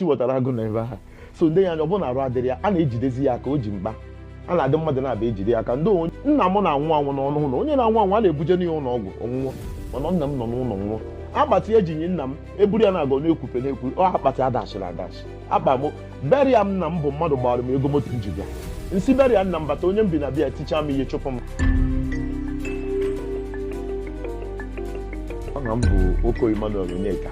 chiwetara agụ nọ ebe a so m nee ya anya ọ bụrụ na arụ adịrọ ya a na-ejidezi ya aka o ji mkpa a na-adị mmadụ na-abịa ejide ya aka ndị onye nna m na-anwụ anwụ nọ n'ụlọ onye na-anwụ anwụ a na-ebuje n'ihe ụlọ ọgwụ ọ nọ nwụọ mana nna m nọ n'ụlọ nwụọ akpati eji nie nna m eburu ya na-aga na-ekwupe na-ekwu ọ akpati adachiri adachi akpa m burial nna m bụ mmadụ gbara m ego moto m ji bịa m si burial nna m bata onye m bi na be ya tichaa m ihe chụpụ m aha m bụ Oko Emmanuel Onyeka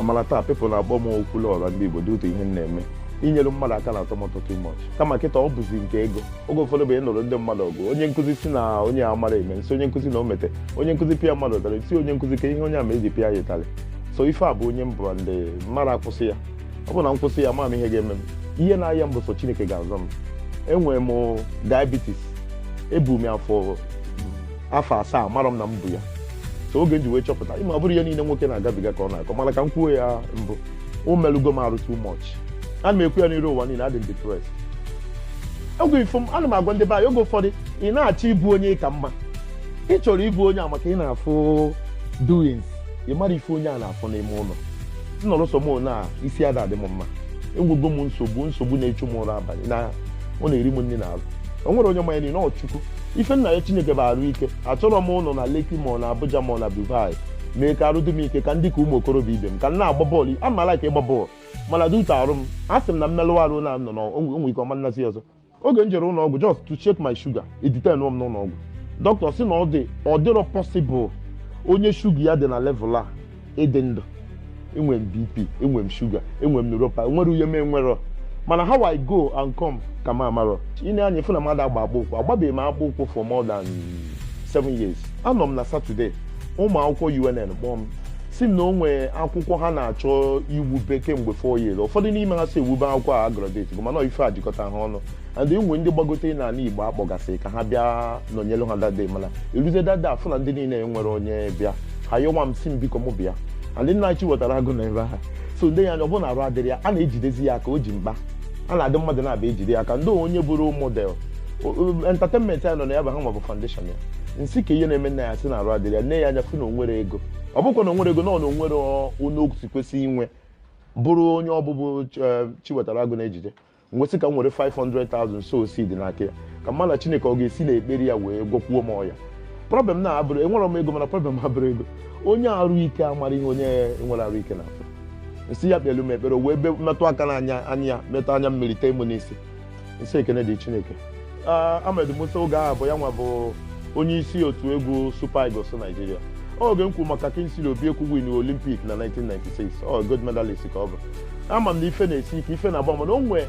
mana taa people na-akpọ m Okwuluọra ndị igbo due to ihe m na-eme inyere mmadụ aka na-atọ m ụtọ too much kama kịta ọ bụzi nke ego oge ụfọdụ bụ ịnụrụ ndị mmadụ ọgụ onye nkụzi si na onye a amarọ eme m sị onye nkụzi na o mete onye nkụzi pịa mmadụ ụtarị si onye nkụzi kee ihe onye a me eji pịa ya ụtarị so ife a bụ onye m bụ ndị mmadụ akwụsị ya ọ bụ na m kwụsị ya ma m ihe ga-eme m ihe m na-ayọ bụ sọ chineke ga-azọ m enwere m diabetes ebu m ya afọ afọ asaa amarọ m na m bu ya so oge m ji wee chọpụta ịma ọ bụrọ ihe niile nwoke na-agabiga ka ọ na-akọ mana ka m kwuo ya mbụ o melugo m arụ too much ana m ekwu ya n'iru ụwa niile adị m depressed oge ifo m ana m agwa ndị be anyị oge ụfọdụ ị na-achọ ịbụ onye ka mma ị chọrọ ịbụ onye a maka ị na-afụ doings ị marọ ife onye a na-afụ n'ime ụlọ m nọrọ sọ m one a isi ada adị m mma enwego m nsogbu nsogbu na-echu m ụra abalị na ọ na-eri m nri n'arụ o nwerọ onye ma ya na ọ chukwu ife m na-ayọ chineke bụ arụ ike achọrọ m ụnọ na Lekki ma na abuja ma na dubai mee ka arụ dị m ike ka m dị ka ụmụ okorobịa ibe m ka m na-agba bọọlụ ama m aka ịgba bọọlụ mana due to arụ m a sị m na m melụ arụ na o nwe ike ọ ma nazi ọzọ oge m jere ụlọ ọgwụ just to check my sugar e detain m n'ụlọ ọgwụ dọkịta sị na ọ dị ọ dịrọ possible onye shuga ya dị na level a ịdị ndụ enwe m bp enwe m shuga enwe m neuropa enwerọ ihe m enwerọ mana how i go and come ka m amarọ ị nee anya fụ na m ada agba akpụ ụkwụ agbabeghị m akpụ ụkwụ for more than seven years anọ m na Saturday ụmụ akwụkwọ unn kpọọ m si m na o nwee akwụkwọ ha na-achọ iwube kemgbe four years ụfọdụ n'ime ha si ewube akwụkwọ a agraduatego mana ife a jikọta ha ọnụ and e nwe ndị gbagotere n'ala igbo akpọgasịrị ka ha bịa nọnyere ha that day mana eruzie that day a fụ na ndị niile o nwerọ onye bịa ha yọwa m si m biko mụ bịa and nna chiwetara agụ nọ ebe a so m nee ya anya ọ bụrụ na arụ adịrọ ya a na-ejidezi ya aka o ji mkpa a na-adị mmadụ na-abịa ejide ya aka ndị onye bụrụ modern entertainment anyị nọ na ya bụ ha nwa bụ foundation ya m sị kee ihe na-eme nna anyị a sị na arụ adịrọ ya m nee ya anya fụ na o nwerọ ego ọ bụkwa na onwere ego na ọ na onwere onye okwusi kwesị inwe bụrụ onye ọ bụ bụ chiwetara agụ na-ejide m wee sị ka m were 500,000 sow seed n'aka ya ka m mara chineke ọ ga-esi n'ekpere ya wee gwọkwuo m ọya problem m abụrọ enwere m ego mana problem m abụrọ ego onye arụ ike amarọ ihe onye enwerọ arụ ike na-afụ m sị ya kpelu m ekpere o wee be- metụ aka n'anya anya ya metụ anya mmiri tee m n'isi m sị ekene dị chineke Ah, Ahmed Musa oge ahụ bụ ya nwa bụ onye isi otu egwu Super Eagles Nigeria oge m kwuru maka Kingsley Obiekwu win Olympic na 1996 ọ gold medalist ka ọ bụ ama m na ife na-esi ike ife na-agba mana o nwee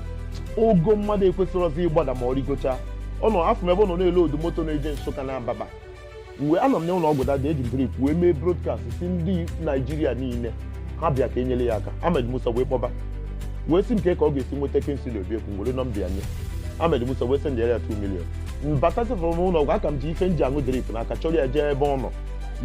ogo mmadụ ekwesịrọzi ịgbada ma ọ rigocha na afụ m ebe ọ nọ na-elodu moto na-eje Nsụka na Abakpa mgbe anọ m n'ụlọ ọgwụ dada eji m drip wee mee broadcast si ndị Naịjirịa niile ha bịa ka enyere ya aka Ahmed Musa wee kpọba wee sị m kee ka ọ ga-esi nweta Kingsley Obiekwu were nọmba ya nye Ahmed Musa wee sendịara ya 2 million mbatasịfụrụ m ụlọ ọgwụ aka m ji ife m ji aṅụ drip n'aka chọrọ ya jee ebe ọ nọ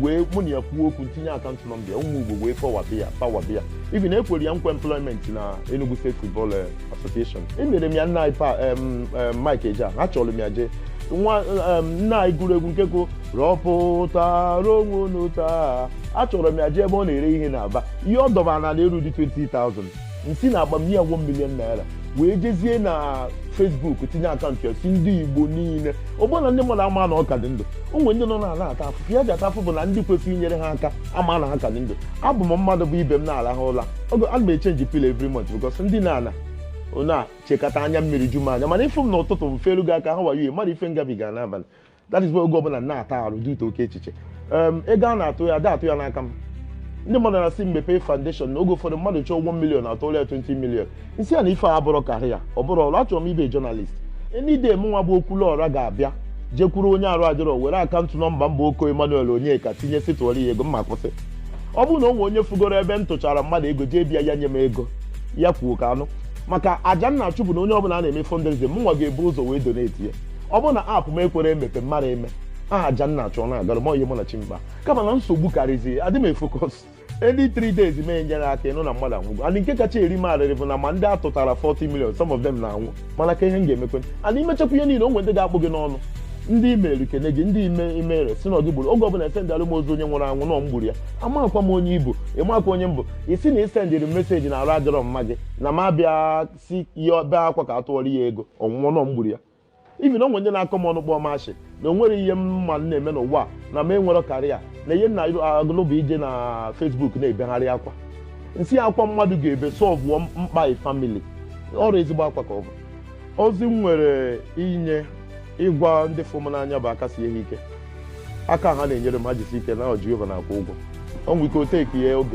wee mụ na ya kwuo okwu m tinye akaụntụ nọmba ya ụmụ Igbo wee pawabi ya pawabi ya even ekwere ya nkwa employment na Enugu State Football eh, Association emere m ya nna anyị pa em, em, Mike Ejeagha chọrọ m ya jee nwa em, nna anyị gụrụ egwu nke gụ rọpụtara onwe unu taa achọrọ m ya jee ebe ọ na-ere ihe n'Aba ihe ọ dọbara na erudị 20,000 m si n'akpa m nye ya 1 million naira wee jezie na Facebook tinye akaụntụ ya si ndị Igbo niile ọ bụ na ndị mmadụ ama na ọ ka dị ndụ o nwere ndị nọ na ala ata afụfụ ihe ha ji ata afụfụ bụ na ndị kwesịrị inyere ha aka ama na ha ka dị ndụ abụ m mmadụ bụ ebe m na-arahụ ụra oge ana m echenji pillow every month because m dina ana na-echekata anya mmiri ju m anya mana ịfụ m n'ụtụtụ m felu gị aka how are you ị madị ife m gabiga n'abalị that is why oge ọbụla m na-ata arụ due to oke echiche Em, ego a na-atụ ya ada atụ ya n'aka m ndị mmadụ na-asị m mepee foundation na oge ụfọdụ mmadụ chọọ 1 million atụrụ ya 20 million m sị ya na ife a abụrụ karị ya ọ bụrụ ọrụ achọrọ m ibe journalist enide m nwa bụ Okwuluọra ga-abịa jekwuru onye arụ adịrọ were akaụntụ nọmba m bụ Okoh Emmanuel Onyeka tinye sị tụọrọ ya ego mma kwụsị ọ bụrụ na o nwee onye fugoro ebe m tụchara mmadụ ego jee be ya ya nye m ego ya kwuo ka a nụ maka aja m na-achụ bụ na onye ọbụla a na-eme fundraising m nwa ga-ebu ụzọ wee donate ya ọ bụrụ na akpa m ekwerọ emepe mmadụ eme aha aja m na-achụ ọ na-agara m onye mụ na chi m kpa kama na nsogbu karịzi adị m efocus ndị 3 days m enyere aka ịnụ na mmadụ anwụgo and nke kacha eri m arịrị bụ na ma ndị a tụtara 40 million some of them na-anwụ mana kee ihe m ga-emekwa and i mechakwa ihe niile o nwere ndị ga-akpụ gị n'ọnụ ndị i mere kene gị ndị i mere si na ọ gị gburu oge ọbụla esendịara m ozu onye nwụrụ anwụ na ọ m gburu ya amakwa m onye ị bụ ị makwa onye m bụ ị sị na i sendịrị m meseji na arụ adịrọ mama gị na m abịa si ya bee akwa ka a tụọrọ ya ego ọ nwụọ na ọ m gburu ya even o nwere ndị na-akọ m ọnụ kpọọ m ashị na o nwere ihe m ma na-eme n'ụwa na m enwerọ career na ihe m na-agụlụ bụ ije na Facebook na-ebegharị akwa m sị akwa mmadụ ga-ebe solvụọ mkpa family ọ bụ ezigbo akwa ka ọ bụ ozi m nwere inye ịgwa ndị fụrụ m n'anya bụ aka sie ha ike aka ha na-enyere m ha jisi ike na Jehova na-akwụ ụgwọ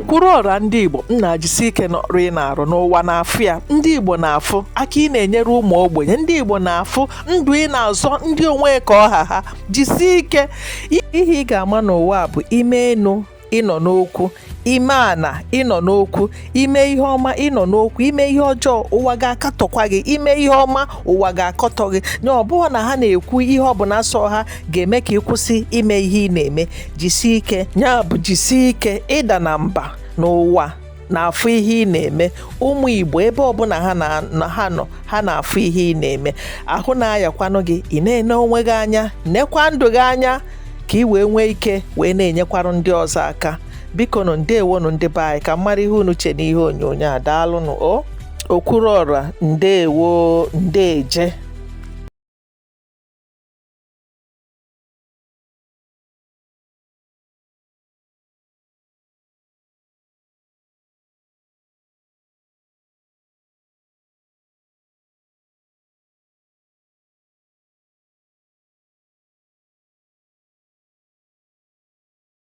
kwuruọra ndị Igbo nnaa jisi ike n'ọrụ ị na-arụ na ụwa na-afụ ya ndị Igbo na-afụ aka ị na-enyere ụmụ ogbenye ndị Igbo na-afụ ndụ ị na-azọ ndị o nwe ka ọ ha ha jisie ike ihe ị ga-ama n'ụwa bụ i mee enu ị nọ n'okwu i mee ana ị nọ n'okwu ime ihe ọma ị nọ n'okwu ime ihe ọjọọ ụwa ga-akatọkwa gị ime ihe ọma ụwa ga-akọtọ gị na ọ bụghị na ha na-ekwu ihe ọbụla sọ ha ga-eme ka ị kwụsị ime ihe ị na-eme jisie ike ya bụ jisie ike ị dana mba na ụwa na-afụ ihe ị na-eme ụmụ Igbo ebe ọbụla ha nọ ha na-afụ ihe ị na-eme ahụ na-ayakwanụ gị ị na-ene onwe gị anya nekwa ndụ gị anya ka ị wee nwee ike wee na-enyekwara ndị ọzọ aka bikonụ ndewonụ ndị be anyị ka m mara ihe unu che n'ihe onyonyo a daalụnụ o Okwuruọra ndewo ndeje